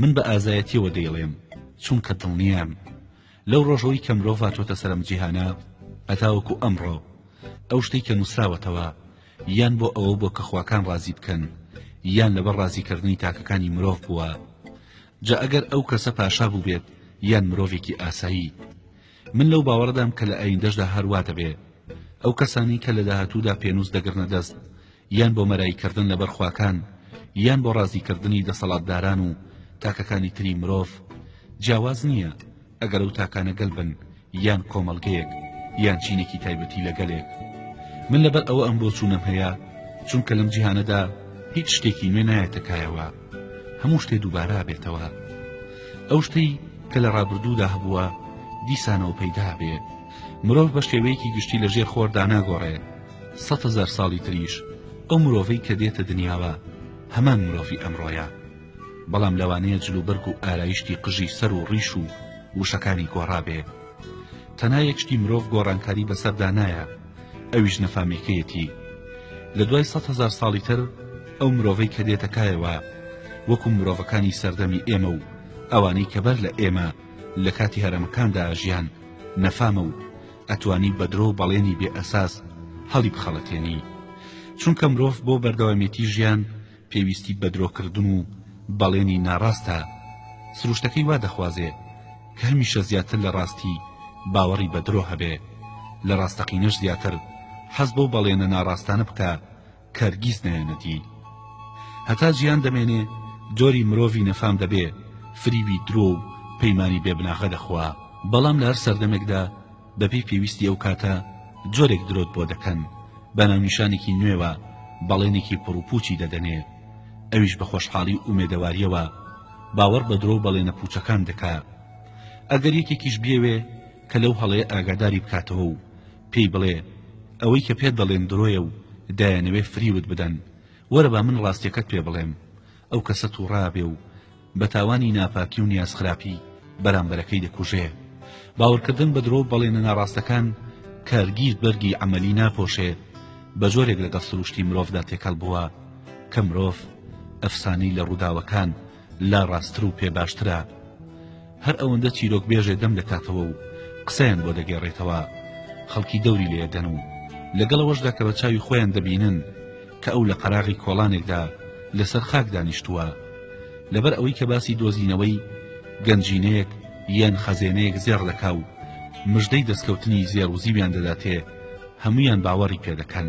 من بە ئازایەتیەوە دەیڵێم چونکە دڵنیام لەو ڕۆژەوەی کە مرۆڤ هاتۆتە سەرم جیهانە هەتاوەکو ئەمڕۆ ئەو شتەی کە نووسراوەتەوە یان بۆ ئەوە بۆ کە خواکان ڕازی بکەن یان لەبەر ڕازیکردنی تاکەکانی مرۆڤ بووە جا ئەگەر ئەو کەسە پاشا بووبێت یان مرۆڤێکی ئاسایی من لەو باوەڕدام کە لە ئایندەشدا هەروا دەبێ ئەو کەسانی کە لە داهاتوودا پێنووس دەگرنە دەست یان بۆ مەرایی کردن لەبەر خواکان یان بۆ ڕازی کردنی دەسەڵاتداران و تاکەکانی تری مرۆڤ جیاواز نییە ئەگەر ئەو تاکانە گەل بن یان کۆمەڵگەیەک یان چینێکی تایبەتی لە گەلێک من لەبەر ئەوە ئەم بۆچوونەم هەیە چونکە لەم جیهانەدا هیچ شتێکی نوێ نایەتە کایەوە هەموو شتێ دووبارە بێتەوە ئەو شتەی کە لە ڕابردوودا هەبووە دیسانەوە پەیدا بێ مرۆڤ بە شێوەیەکی گشتی لە ژێر خۆردا ناگۆڕێ سەد هەزار ساڵی تریش ئەو مرۆڤەی کە دێتە دنیاوە هەمان مرۆڤی ئەمڕۆیە بەڵام لەوانەیە جلوبەرگ و ئارایشتی قژی سەر و ڕیش و وشەکانی گۆڕابێ تەنها یەک شتی مرۆڤ گۆڕانکاری بەسەردا نایە ئەویش نەفامێکەیەتی لە دوای سەد هەزار ساڵی تر ئەو مرۆڤەی کە دێتە کایەوە وەکو مرۆڤەکانی سەردەمی ئێمە و ئەوانەی کە بەر لە ئێمە لە کاتی هەرەمەکاندا ژیان نەفامە و ئەتوانی بە درۆ و بەڵێنی بێ ئەساس هەڵی بخەڵەتێنی چونکە مرۆڤ بۆ بەردەوامیەتی ژیان پێویستی بە درۆکردن و بەڵێنی ناڕاستە سروشتەکەی وا دەخوازێ کە هەمیشە زیاتر لە ڕاستی باوەڕی بە درۆ هەبێ لە ڕاستەقینەش زیاتر حەز بەو بەڵێنە ناڕاستانە بکە هەرگیز نایەنە دی هەتا جیان دەمێنێ جۆری مرۆڤی نەفام دەبێ فریوی درۆ و پەیمانی بێ بناغە دەخوا بەڵام لە هەر سەردەمێکدا بەبێ پێویستی ئەو کاتە جۆرێک درۆت بۆ دەکەن بە ناونیشانێکی نوێوە بەڵێنێکی پڕوپوچی دەدەنێ ئەویش بە خۆشحاڵی و ئومێدەواریەوە باوەڕ بە درۆ بەڵێنە پوچەکان دەکا ئەگەر یەکێکیش بێوێ کە لەو هەڵەیە ئاگاداری بکاتەوە و پێی بڵێ ئەوەی کە پێت دەڵێن درۆیە و دایانەوێ فریوت بدەن، وەرە با من ڕاستیەکەت پێ بڵێم، ئەو کەسە توڕابێ و بە تاوانی ناپاکی و نیاز خراپی بەرامبەرەکەی دەکوژێ، باوەڕکردن بە درۆ و بەڵێنە ناڕاستەکان کارگیرد بەرگی عەمەلی ناپۆشێ، بە جۆرێک لەگەڵ سروشتی مرۆڤدا تێکەڵ بووە کە مرۆڤ ئەفسانەی لە ڕووداوەکان لا ڕاستتر و پێ باشترە هەر ئەوەندە چیرۆک بێژێ دەم دەکاتەوە و قسەیان بۆ دەگێڕێتەوە خەڵکی دەوری لێ دەن و لەگەڵەوەشدا کە بە چاوی خۆیان دەبینن کە ئەو لە قەراغی کۆڵانێکدا لەسەر خاک دانیشتووە لەبەر ئەوەی کە باسی دۆزینەوەی گەنجینەیەک یان خەزێنەیەک زێڕ دەکا و مژدەی دەستکەوتنی زێڕ و زیویان دەداتێ هەمویان باوەڕی پێ دەکەن